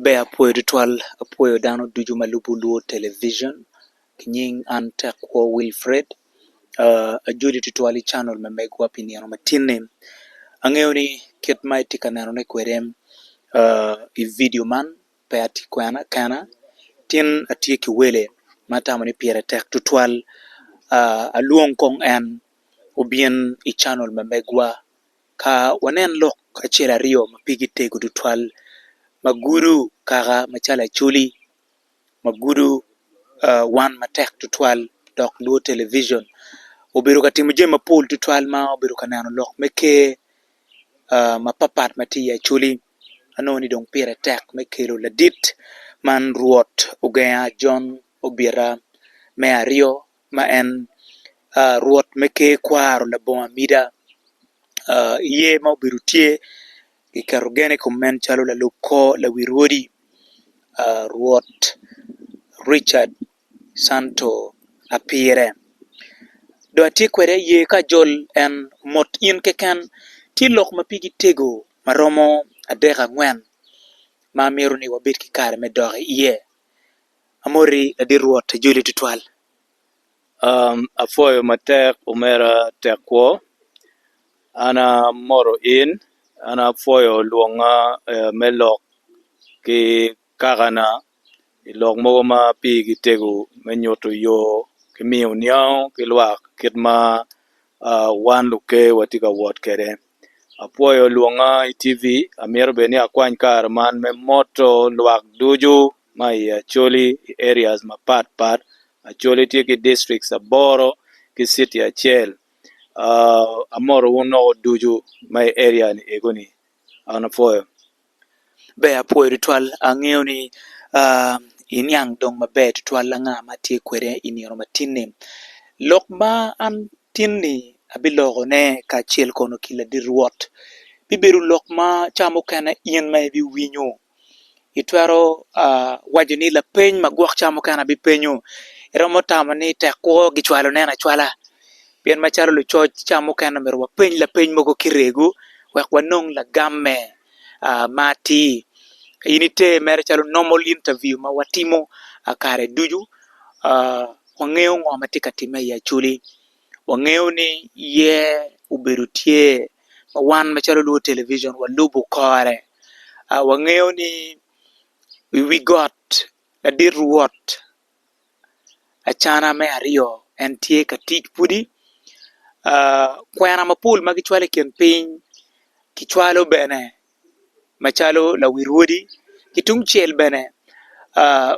Ber apwoyo tutwal apwoyo dano ducu ma lubo lwor television ki nying an Tekwo Wilfred ajoli tutwal i canal ma megwa pi nino ma tinni angeyo ni kit ma itye ka nenone kwede i vidio man pe atye kwena kena tin atye ki wele ma atamo ni pire tek tutwal alwong kong en obin i canal ma megwa Ka wanen lok acel aryo ma pigi tego tutwal ma gudo kaka macalo acholi ma gudo wan matek tutwal dok lwo televijen obedo ka timo jami mapol tutwal ma obedo ka neno lok me ker mapatpat ma tye i acholi anongo ni dong pire tek me kelo ladit man Rwot Ogenga Jon Obita me Aryo. ma en Rwot me ker kwaro labongo amida, iye ma obedo tye, kiketo gen i kom en calo lalub kor lawi rwodi, Rwot Richard Santo Apire. Dong atye kwede iye ka ajol en mot in keken, tye lok ma pigi tego ma romo adek angwen ma amito ni wabed ki kare me dok iye. Amoti ladit Rwot ijoli twatwal. Apwoyo matek omera Tekwo, an amoto in, an apwoyo lwonga me lok ki kakana i lok mogo ma pigi tego me nyuto yo ki miyo niango ki lwak kit ma wan luker watye ka wot kwede. apwoyo lwonga i TV amito bene ni akwany kare man me moto lwak ducu ma i Acholi i areas mapat pat, Acholi tye ki districts aboro ki city acel amoto wun woko ducu ma i area ni eko ni an apwoyo. Ber apwoyo tutwal angeyo ni aa iniang dong maber tutwal anga ma atye kwede i nino ma tinni. Lok ma an tinni abilokone kacel kono ki ladit Rwot bibedo lok ma ca mukene in ma ibiwinyo itwero aa waco ni lapeny magwok ca mukene abipenyo iromo tamo ni tek kwo gicwalo nen acwala. Pien macalo lucoc ca mukene omyero wapeny lapeny mogo ki rego wek wanong lagamme ma atir. In ite mere calo normal interview ma watimo kare ducu, wangeyo ngo ma tye ka timme i Acholi, wangeyo ni iye obedo tye ma wan macalo lubo television walubo kore, wangeyo ni i wi got ladit Rwot. acana me aryo en tye ka tic pwodi kwena mapol ma kicwalo i kin piny kicwalo bene macalo lawil wodi ki tung cel bene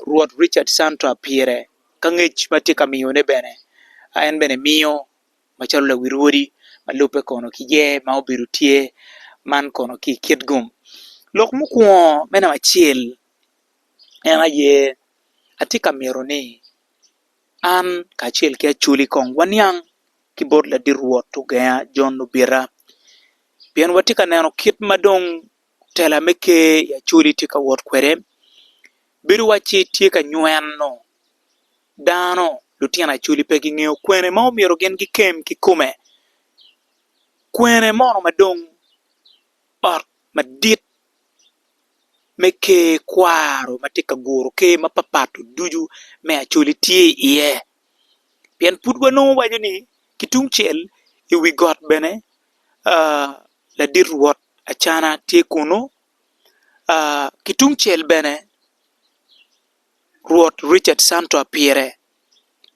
rwot Ricards Santa pire ka ngec ma tye ka miyone bene en bene miyo macalo lawil wodi ma lubbe kono ki ye ma obedo tye man kono ki i kit gum lok mukwongo me namba acel. En aye, atye ka mito ni an kacel ki Acholi kong waniang ki bot ladit Rwot ogenga Jon Lubita, pien watye ka neno kit ma dong tela me Ker i Acholi tye ka wot kwede. Bedo wacci tye ka nyweno dano, lutino Acholi pe gingeyo kwene ma omyero gin gikem kikome, kwene mono ma dong ot madit. me ker kwaro ma tye ka guro ker mapatpat ducu me Acholi tye iye pien pud wanongo waco ni ki tung cel i wi got bene ladit rwot Acana tye kunu ki tung cel bene. Rwot Richard Santoa pire.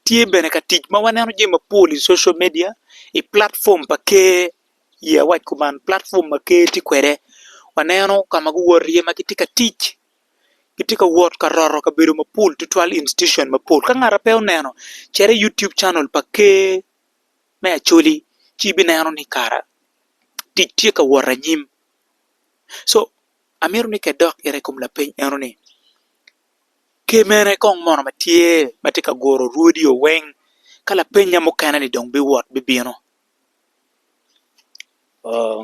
Tye bene ka tic ma waneno jami mapol i social media i platform pa Ker i awac kuman platform ma Ker tye kwede waneno ka ma guwoto iye ma gitye ka tic gitye ka wot ka roto kabedo mapol tutwal institution mapol ka ngat ma pe oneno cit i YouTube channel pa Ker me Acholi ci ibineno ni kara tic tye ka wot anyim. Amito ni ka idok gire i kom lapeny eno ni, kemene kong mono ma tye ma tye ka guro rwodiyeo weng ka lapenya mukene ni dong biwot bibino? Oo,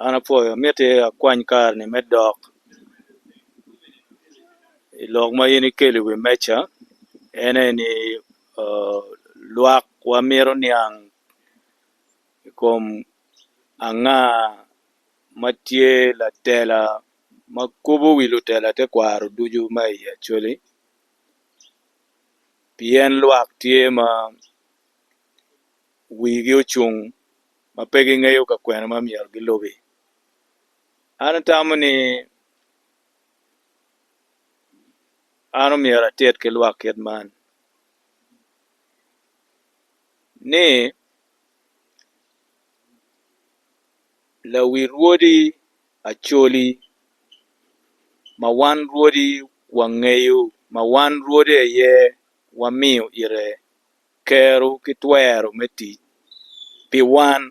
an apwoyo, mitte akwany kare-ni me dok i lok ma in ikelo i wi meja, en aye ni oo, lwak wamito niang i kom anga ma tye latela ma kobo wi lutela tekwaro ducu ma i Acholi pien lwak tye ma wigi ocung ma pe gingeyo ka kwene ma myero gilubi. An atamo ni an omyero atit ki lwak kit man ni Lawi rwodi Acholi ma wan rwodi wangeyo ma wan rwodi aye wamiyo ite kero ki twero me tic pi wan,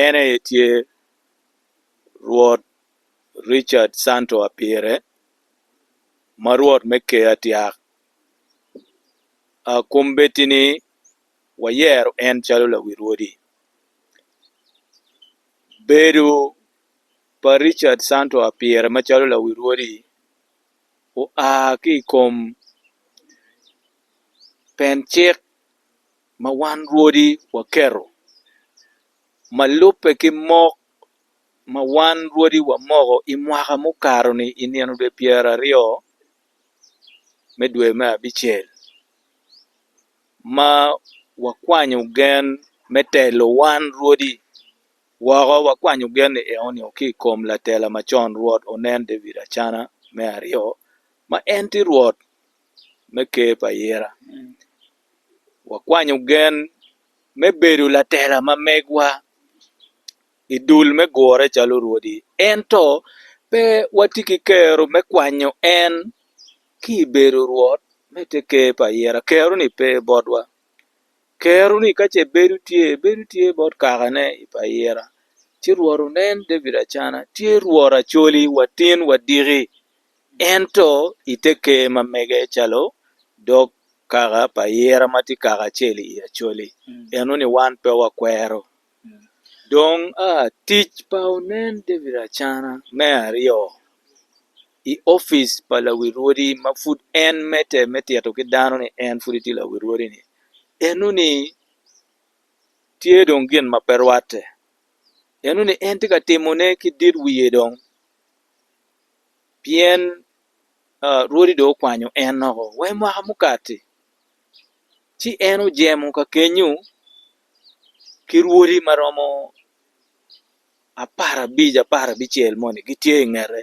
en aye tye Rwot Richard Santo Apire ma Rwot me Ker Atyak. Akombeddi ni. wayero en calo lawil odi. Bedo pa Richard Santo Apire macalo lawil odi oa ki i kom pen cik ma wan rwodi waketo ma lubbe ki mok ma wan rwodi wamoko i mwaka mukato-ni i nino dwe pyeraryo me dwe me abicel. ma wakwanyo gen me telo wan rwodi woko, wakwanyo gen-ni eno nio ki i kom latela macon Rwot onen David Acana me aryo, ma en tye Rwot me Ker pa ayera. Wakwanyo gen me bedo latela ma megwa i dul me gure calo rwodi, ento pe watye ki kero me kwanyo en. ki i bedo rwot me te ker pa ayira, kero-ni pe botwa. Kero-ni ka ce bedo tye, bedo tye bot kakane i pa ayira. Ci Rwot onen David Acana tye Rwot Acoli wa tin wa diki, ento i te ker ma mege calo dog kaka pa ayira ma tye kaka acel i Acoli, eno-ni wan pe wakwero. Dong tic pa onen David Acana me aryo i opic pa lawil wodi ma pud en medde me tito ki dano ni en pud etye lawil wodi ni eno ni tye dong gin ma pe rwatte eno ni en tye ka timo ne ki dit wiye dong pien rwodi dong okwanyo en woko wa i mwaka mukati ci en ojemo ka kenyo ki rwodi ma romo apar abic apar abicel moni gitye i ngete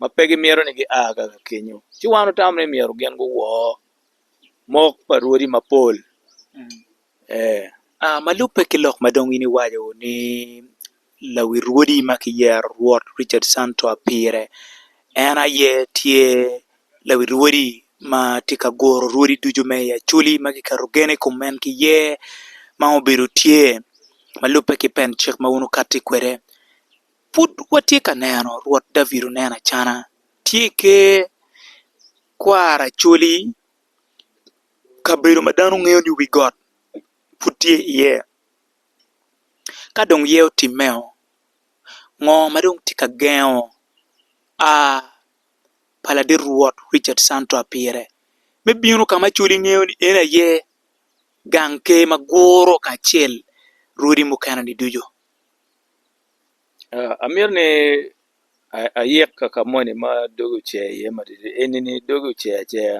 ma pe gimito ni gia ka kenyo ci wan wutamo ni myero gin guwor mok pa rwodi mapol ee. Aa ma lubbe ki lok ma dong in iwaco-ni Lawi rwodi ma kiyero Rwot Richard Santoa pire. En aye tye lawi rwodi ma tye ka guro rwodi ducu me i Acholi ma kiketo gen i kom en ki yer ma obedo tye ma lubbe ki pen cik ma wun wukati kwede. Pud watye ka neno Rwot David Onen Acana tye i ker kwar Acholi, kabedo ma dano ngeyo ni wi got pud tye iye. Ka dong ye otimmeo, ngo ma dong tye ka gengo a pa ladit rwot Ricat Santua pire me bino ka ma cwod ingeyo ni en aye gang ker ma guro kacel rwodi mukene ni ducu? Amito ni ayik ka ka moni ma doge ocer iye matidi eni ni doge ocer aceya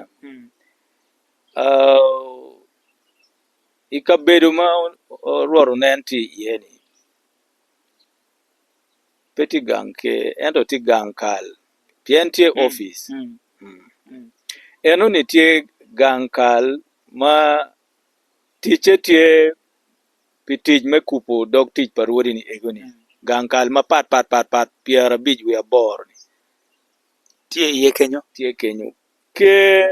I kabedo ma orwatte onen tye iye ni pe tye gang ker ento tye gang kal pien tye opic enoni tye gang kal ma ticce tye pi tic me kubo dog tic pa rwodi ni ego ni gang kal mapat pat pat pat pyerabic wiye aboro ni tye iye kenyo ker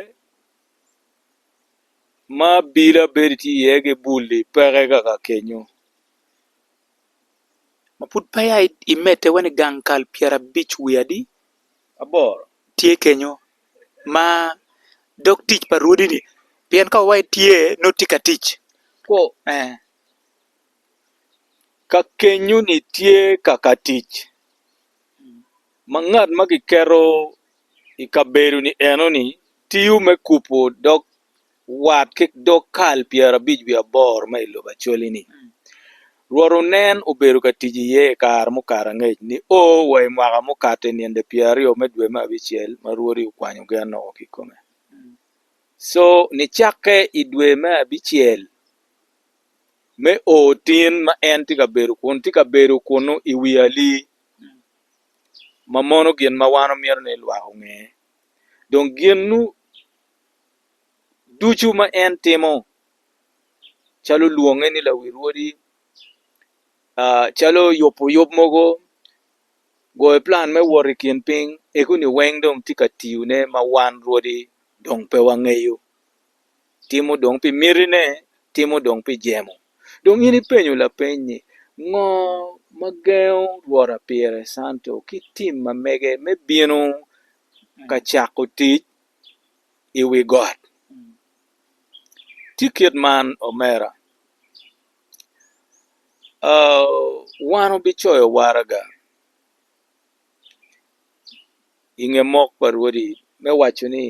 ma abila bedo tye iye ki bul-li peke kaka kenyo ma pud peya imedde wene i gang kal pyera abic wiye adi aboro tye kenyo ma dog tic pa rwodi-ni pien ka wai tye nongo tye ka tic ka kenyo-ni tye kaka tic ma ngat ma kiketo i kabedo-ni enoni tiyo me kubo dog wat ki dog kal pyerabic wiye aboro ma i lobo Acholi-ni, Rwot onen obedo ka tic iye i kare mukato angec nio wa i mwaka mukato i ninde pyeraryo me dwe me abicel ma Rwodi okwanyo gen oko ki i kome. Co nicakke i dwe me abicel me oo tin ma en tye ka bedo kun tye ka bedo kunnu i wi ali, ma mono gin ma wan wamito ni lwak onge dong gin ducu ma en timo calo lwonge ni lawil wodi calo yubo yub mogo goyo plan me wot i kin piny eko ni weng dong tye ka tiyone ma wan rwodi dong pe wangeyo. timo dong pi mitine, timo dong pi jemo. Dong in ipenyo lapeny ni, 'Ngo ma gengo Rwota Pire Santo ki tim ma mege me bino ka cako tic i wi got? Tye kit man, omera. Wan wubicoyo waraga i nge mok pa Rwodi me waco ni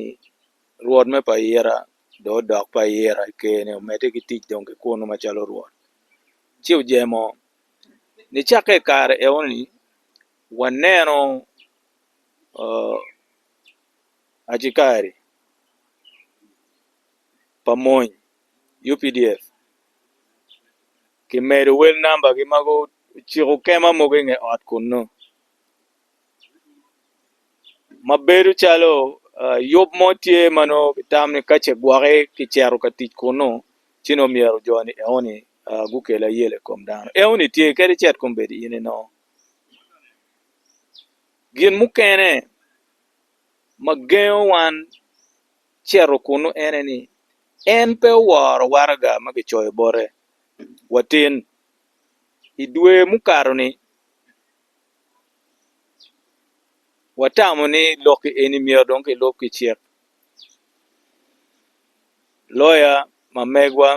Rwot me pa ira dong odok pa ira i ker-ni, omedde ki tic dong ki kunnu macalo rwot. Ci ojemo. Nicakke i kare enoni, waneno acikari pa mony, updf, kimedo wel nambagi ma guciko kema mogo i nge ot kunnu. ma bedo calo yub mo tye ma nongo kitam ni kace gwoki kicito ka tic kunnu ci nongo myero jo-ni eoni gukel ayela i kom dano eoni tye kadi cet kong bed in ino gin mukene ma gengo wan cito kunnu ene ni en pe oworo waraga ma kicoyo bote watin i dwe mukato-ni watamo ni lokki eni myero dong kilub ki cik loya ma megwa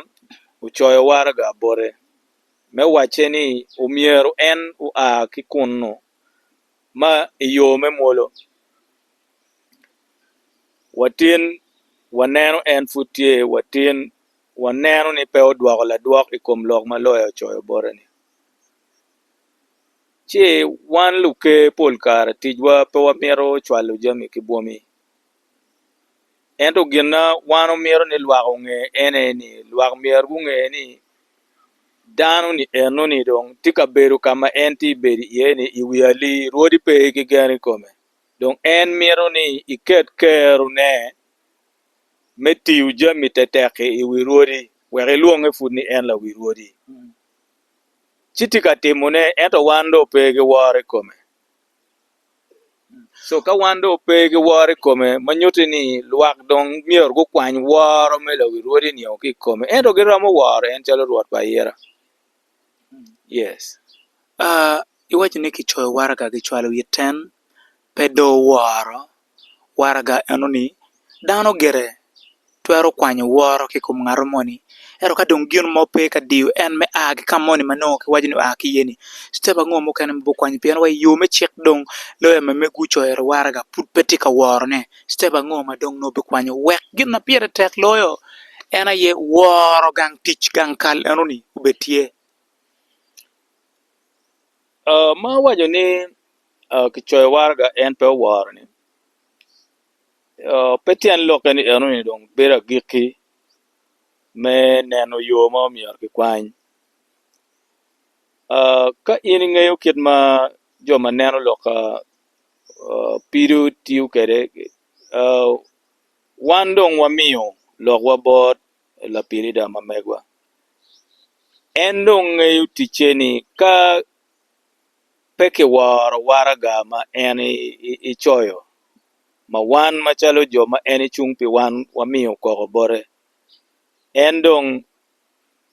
ocoyo waraga bote me wacce ni omyero en oa ki kunnu ma i yo me mwolo watin waneno en pud tye watin waneno ni pe odwoko ladwok i kom lok ma loya ocoyo bote-ni ci wan luker pol kare ticwa pe wamito cwalo jami ki bwomi ento gin ma wan wamito ni lwak onge en aye ni lwak myero gunge ni dano ni eno ni dong tye ka bedo ka ma en tye ka bedo iye ni i wi ali rwodi pe ki gen i kome dong en mito ni iket kerone me tiyo jami tetek-ki i wi rwodi wek ilwonge pud ni en lawi rwodi ci tye ka timone ento wan dong pe ki woro i kome so ka wan dong pe ki woro i kome ma nyuti ni lwak dong myero gukwany woro me lawi rwodi nio ki i kome ento gi romo woro en calo rwot pa ayira yes aa iwaco ni ki coyo waraga ki cwalo it ten pe do woro waraga eno ni, dano gire twero kwanyo woro ki kom ngato moni ento ka dong gin mo pe ka diyo en me a ki ka moni ma nongo ki waco ni oa ki iye ni citep ango mukene ma bukwanyo pien wa i yo me cik dong loya ma mego ocoyo eni waraga pud pe tye ka worone citep ango ma dong nongo bikwanyo wek gin ma pire tek loyo en aye woro gang tic gang kal eno ni obed tye Ma owaco ni kicoyo waraga en pe oworoni, pe tyen lokke ni enoni dong bedo agikki me neno yo ma omyero kikwany. Ka in ingeyo kit ma jo ma neno lok pido tiyo kwede, wan dong wamiyo lokwa bot. lapirida ma megwa en dong ngeyo ticce ni ka pe ki woro waraga ma en ecoyo ma wan macalo jo ma en ecung pi wan wamiyo koko bote en dong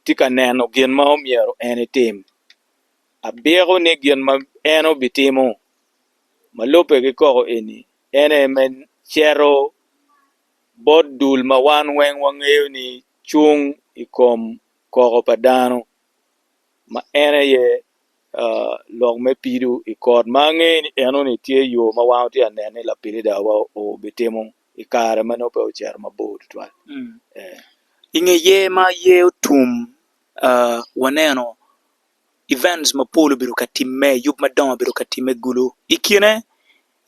tye ka neno gin ma omyero en etim abyeko ni gin ma en obitimo ma lubbe ki koko eni en aye me cito bot dul ma wan weng wangeyo ni cung i kom koko pa dano ma en aye lok me pido i kot ma angeyo ni enoni tye yo ma wan watye ka neno ni lapilidawa obitimo i kare ma nongo pe ocito mabor tutwal. I nge yer ma yer otum waneno events mapol obedo ka timme, yub madongo obedo ka timme gulu. I kine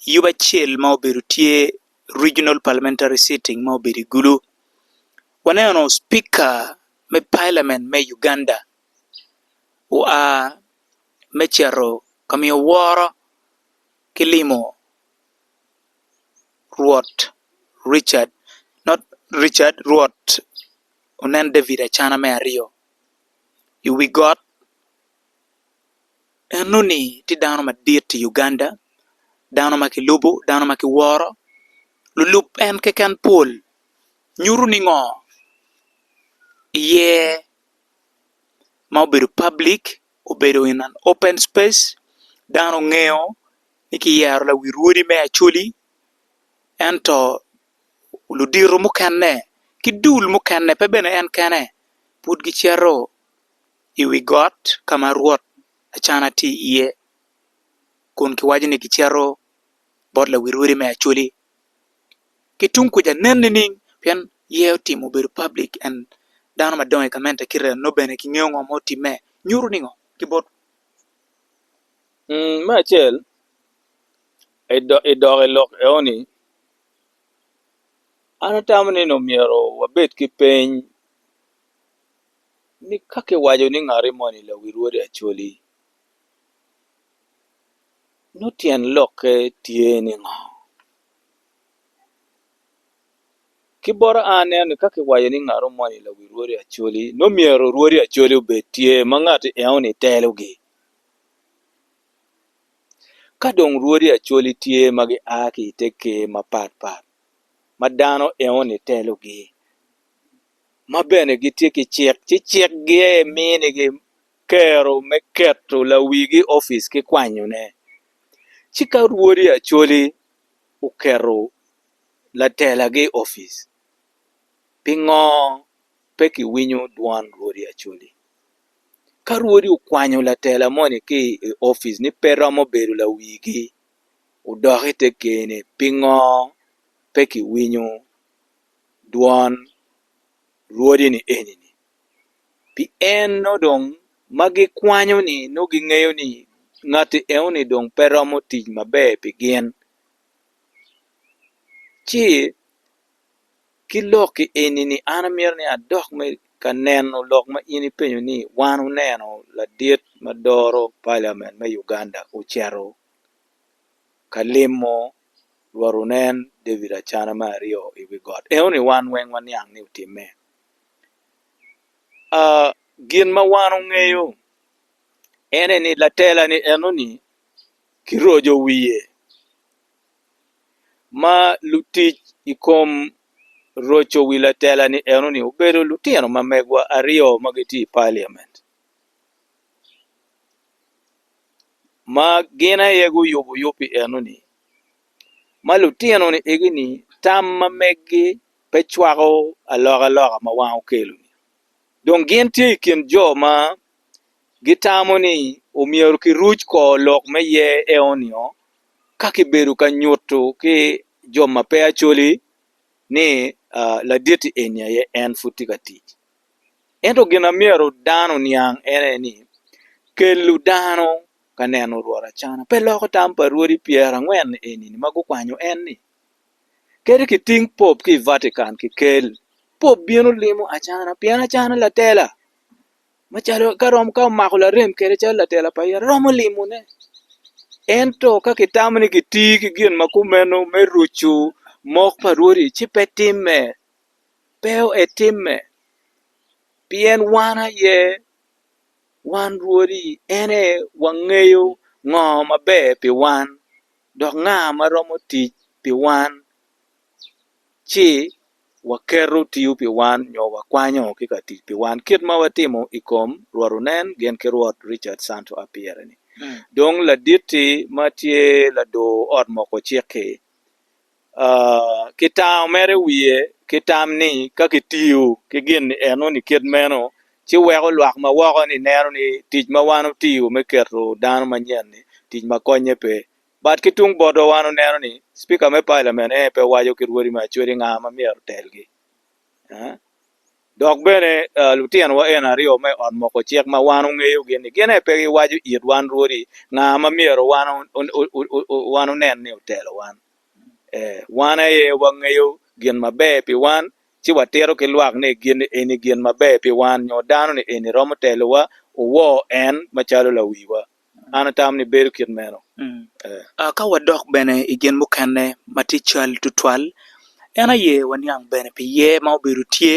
yub acel ma obedo tye Regional Parliamentary Sitting ma obedo i Gulu, waneno Spika me Palamen me Uganda oa me cito ka miyo woro ki limo Rwot Richard not Richard Rwot onen David Acana me aryo i wi got. Enoni tye dano madit i Uganda, dano ma kilubo, dano ma kiworo, lulub en keken pol, nyuto ni ngo iye ma obedo public, obedo in an open space, dano ngeyo ni kiyero lawi rwodi me Acholi ento ludito mukene ki dul mukene pe bene en kene pud gicito i wi got ka ma Rwot Acana tye iye, kun kiwaco ni gicito bot lawil odi me Acoli. Ki tung kuca nen nining? Pien iye otimo obedo public and dano madongo i gamente kite dano bene gingeyo ngo ma otimme. Nyuto ningo ki bot. Me acel, i dok i lok eoni, an atamo ni omyero wabed ki peny ni ka kiwaco ni ngati moni lawi rwodi Acholi, nongo tyen lokke tye ni ngo? Ki bota an aneno ni ka kiwaco ni ngato moni lawi rwodi Acholi nongo myero rwodi Acholi obed tye ma ngati enoni telogi. Ka dong rwodi Acholi tye ma gia ki i te ker mapat pat ma dano enoni telogi ma bene gitye ki cik, ci cik giye minigi kero me keto lawigi opic ki kwanyone. Ci ka rwodi Acholi oketo latelagi opic, pingo pe ki winyo dwon rwodi Acholi? Ka rwodi okwanyo latela moni ki i opic ni pe romo bedo lawigi odok ite kene pingo pe ki winyo? dwon Rwodi ni eni-ni, pien nongo dong ma gikwanyo-ni nongo gingeyo ni ngatti enoni dong pe romo tic maber pi gin. Ci ki lokki eni-ni an amito ni adok me ka neno lok ma in ipenyo ni wan wuneno ladit ma doro paliamen me Uganda ocito ka limo. Rwot onen David acana me aryo i wi got. Eno ni wan weng waniang ni otimme. Uh, gin ma wan ongeyo ene ni latela ni eno ni kirojo wiye ma lutic i kom roco wi latela ni eno ni obedo lutino ma megwa aryo ma gitye i parliament. ma gin aye guyubo yub pi enoni ma lutino ni egi ni tam ma megi pe cwako aloka loka ma wan okelo dong gin tye i kin jo ma gitamo ni omyero ki ruc kor lok me ye eo nio ka ki bedo ka nyutu ki jo ma pe acoli ni laditi eni aye en pud tye ka tic Ento gin ma myero dano oniang en aye ni, kelo dano ka neno Rwot Acana pe loko tam pa Rwodi Pyerangwen eni ma gukwanyo en-ni. Kadi kiting Pope ki i Vatican kikel, Pope bino limo Acana pien Acana latela macalo ka romo ka omako larem kede calo latela pa ite romo limone. Ento ka kitamo ni kitir ki gin ma kumeno me rucu mok pa Rwodi ci pe timme. pe etimme, pien wan aye wan rwodi, en aye wangeyo ngo maber pi wan, dok nga ma romo tic pi wan ci waketo tiyo pi wan nyo wakwanyo ki ka tic pi wan kit ma watimo i kom Rwot Onen gin ki Rwot Richard Santo Apiere ni. Dong laditti ma tye ladur ot moko cik-ki, ki tango mere wiye ki tam ni ka kitiyo ki gin enoni kit meno ci weko lwak ma woko ni neno ni tic ma wan wutiyo me keto dano manyen ni tic ma konye pe but ki tung botwa wan waneno ni cipika me palamen aye pe waco ki rwodi me acwec ni nga ma myero otelgi Dok bene, lutinowa eni aryo me ot moko cik ma wan ongeyogi ni gin aye pe giwaco it wan rwodi nga ma myero wan onen ni otelo wan. Ee, wan aye wangeyo gin maber pi wan, ci watito ki lwak ni gin eni gin maber pi wan nyo dano-ni eni romo telowa, wuwor en macalo lawiwa. An atamo ni bedo kit meno. Ka wadok bene i gin mukene ma tye cal tutwal, en aye waniang bene pi yer ma obedo tye,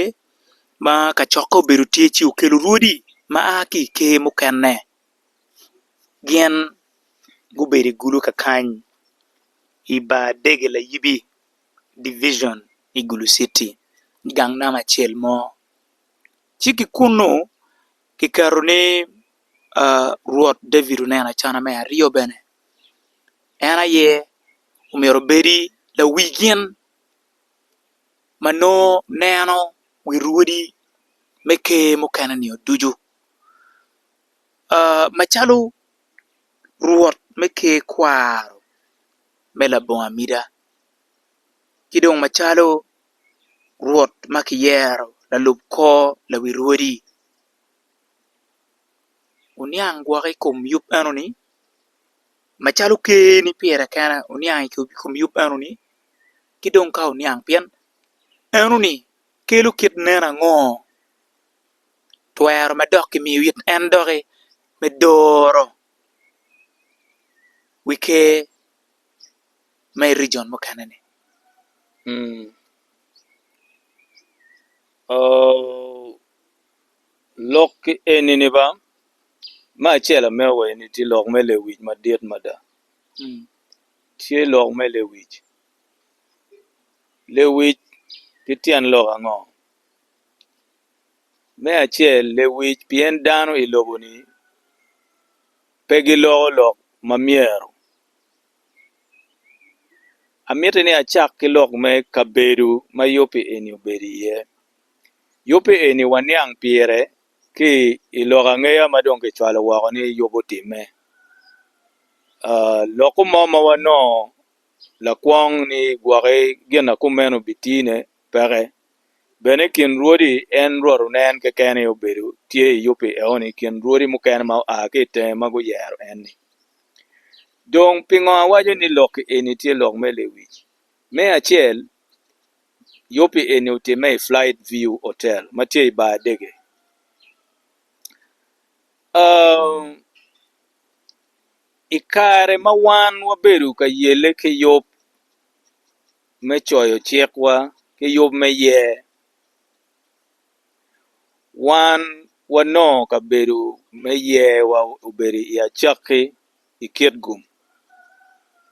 ma kacokke obedo tye ci okelo rwodi ma a ki i ker mukene, gin gubedo i gulu kakany i bar dege layibi, division, i Gulu Citi, i gang nama acel mo. Ci ki kunnu kiketo ni Rwot David oneno acana me aryo bene, en aye omyero obedi lawi gin ma nongo neno wi rwodi me ker mukene nio ducu. Macalo Rwot me ker kwaro me labongo amida ki dong macalo Rwot ma kiyero lalub kor lawi rwodi. oniang gwok i kom yub enoni macalo ker ni pire kene oniang i kom yub enoni ki dong ka oniang pien enoni kelo kit nen ango twero ma dok kimiyo it en doki me doro wi ker ma i rijon mukene ni ooh. Lok ki enini ba, me acel ameo wa eni tye lok me lewic madit mada. Tye lok me lewic, lewic ki tyen lok ango? Me acel lewic pien dano i lobo-ni pe giloko lok ma myero, amiti ni acak ki lok me kabedo ma yoppi eni obedo iye. Yubbe eni waniang pire ki i lok angeya ma dong kicwalo woko ni Yubu otimme. Lokke mo ma wanongo lakwong ni gwoki gin ma kumeno bitine peke. Bene i kin rwodi en rwotone en keken aye obedo tye i Yubu enoni i kin rwodi mukene ma gua ki i tenge ma guyero en-ni. Dong pingo awaco ni lokke eni tye lok me lewic? Me acel Yubbi eni otimme i Flight View Hotel ma tye i bar Adege. I kare ma wan wabedo ka yelle ki yub me coyo cikwa ki yub me yer, wan wanongo kabedo me yerwa obedo i acakki i Kitgum.